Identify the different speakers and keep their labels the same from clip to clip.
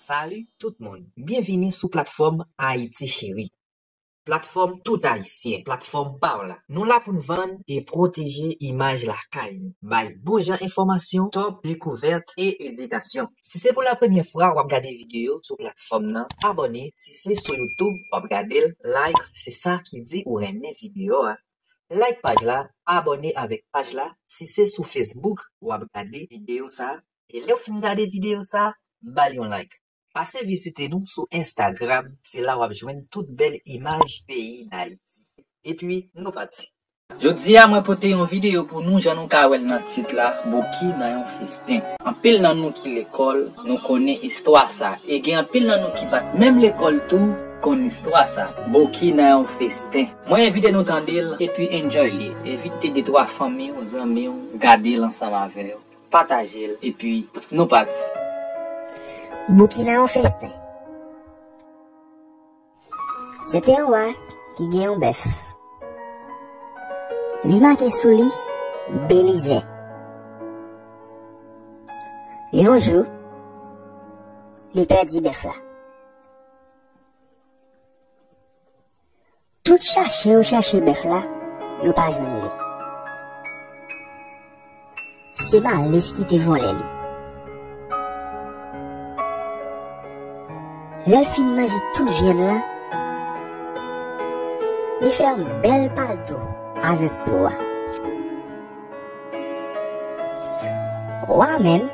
Speaker 1: Salut tout moun, byenvini sou platfòm Ayiti Cheri, platfòm tout ayisyen, platfòm pa w la. Nou la pou n vann e pwoteje imaj lakay nou, bay bon jan enfòmasyon, top dekouvèt e edikasyon. Si se pou la premyè fwa wap gade video sou platfòm nan abòne si se sou youtube wap gadel like se sa ki di ou renmen video a like paj la abòne avèk paj la si se sou facebook wap gade video sa e lèw fin gade video sa bal yon like. Pase vizite nou sou instagram se la wap jwenn tout bèl imaj peyi dayiti epi nou pati. Jodi a mwen
Speaker 2: pote yon videyo pou nou jan nou ka wèl nan tit la Bouki nan yon festen. Anpil nan nou ki lekòl nou konnen istwa sa e gen anpil nan nou ki pat menm lekòl tou konn istwa sa Bouki nan yon festen. Mwen envite nou tandel epi enjoy li envite de twa fanmiw zanmiw gadel ansanm avèw patajel epi nou pati.
Speaker 3: Bouki nan yon festen. Se te yon wa ki gen yon bèf. Li make sou li Belize. Yon jou, li pèdi bèf la. Tout chache yo chache bèf la, yo pa jwenn li. Se Malis ki te vòlè li. Lè l fin manje tout vyann lan, li fè yon bèl palto avèk po a. Wa a menm,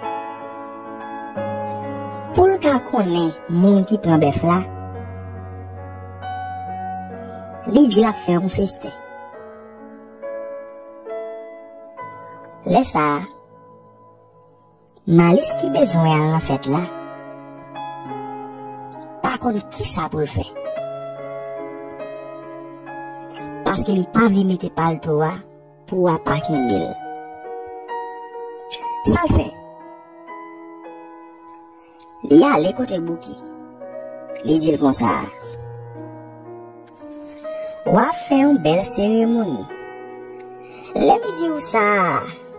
Speaker 3: pou l ka konnen moun ki pran bèf la, li di l ap fè yon festen. Lè sa a, Malis ki bezwen al nan fèt la pa konn ki sa pou l fè. Paske li pa vle mete palto a pou a pa kenbe l. Sa l fè? Li ale kote Bouki. Li di l konsa. Wa fè yon bèl seremoni. Lè m di w sa,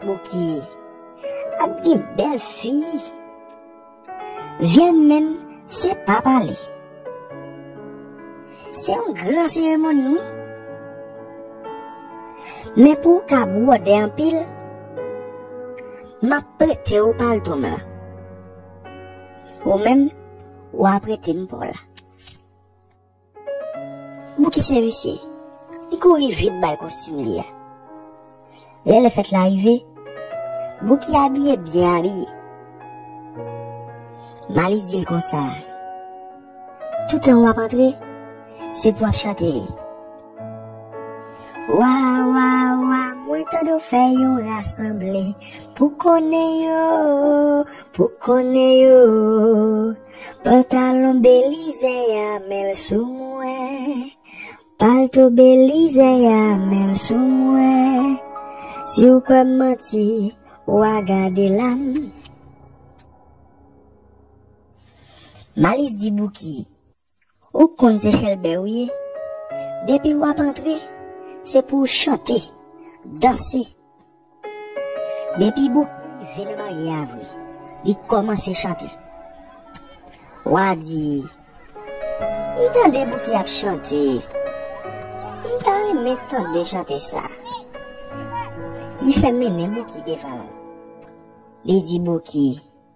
Speaker 3: Bouki, ap gen bèl fi. Vyèn menm se pa pale. Se yon gran seremoni wi. Men pou w ka bwode anpil, m ap prete w palto m lan. Ou menm, w a prete m pa w la. Bouki se visye. Li kouri vit bay kostim li a. Lè lèfèt la rive, Bouki abiye byen abiye. Malice di l konsa, Toutan w ap antre, se pou w ap chante. Wa, wa, wa, mwen tande w fè yon rasanble pou konnen yo, pou konnen yo. Pantalon Belize a men l sou mwen. Palto belize a menl sou mwen si ou kwèm manti wa gade lam. Malis di Bouki, ou k konn se Chèlbè ou ye, depi w ap antre, se pou w chante, danse. Depi Bouki rive nan baryè a vre, li kòmanse chante. Wa di, M tande Bouki ap chante, m ta renmen tande chante sa. Li fè mennen Bouki devan l. Li di Bouki,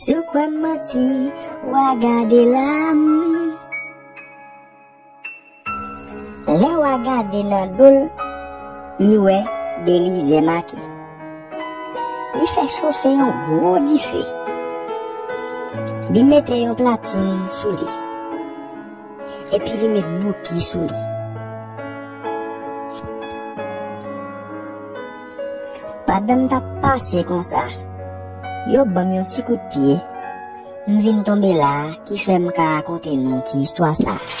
Speaker 3: Si w kwè m manti, wa gade la m. Lè wa gade nan do l, li wè Belize make. Li fè chofe yon gwo dife. Li mete yon platin sou li. Epi li met bouki sou li. Pandan m t ap pase konsa, yo ban m yon ti kout pye, m vin tonbe la a ki fè m ka rakonte nou ti istwa sa a.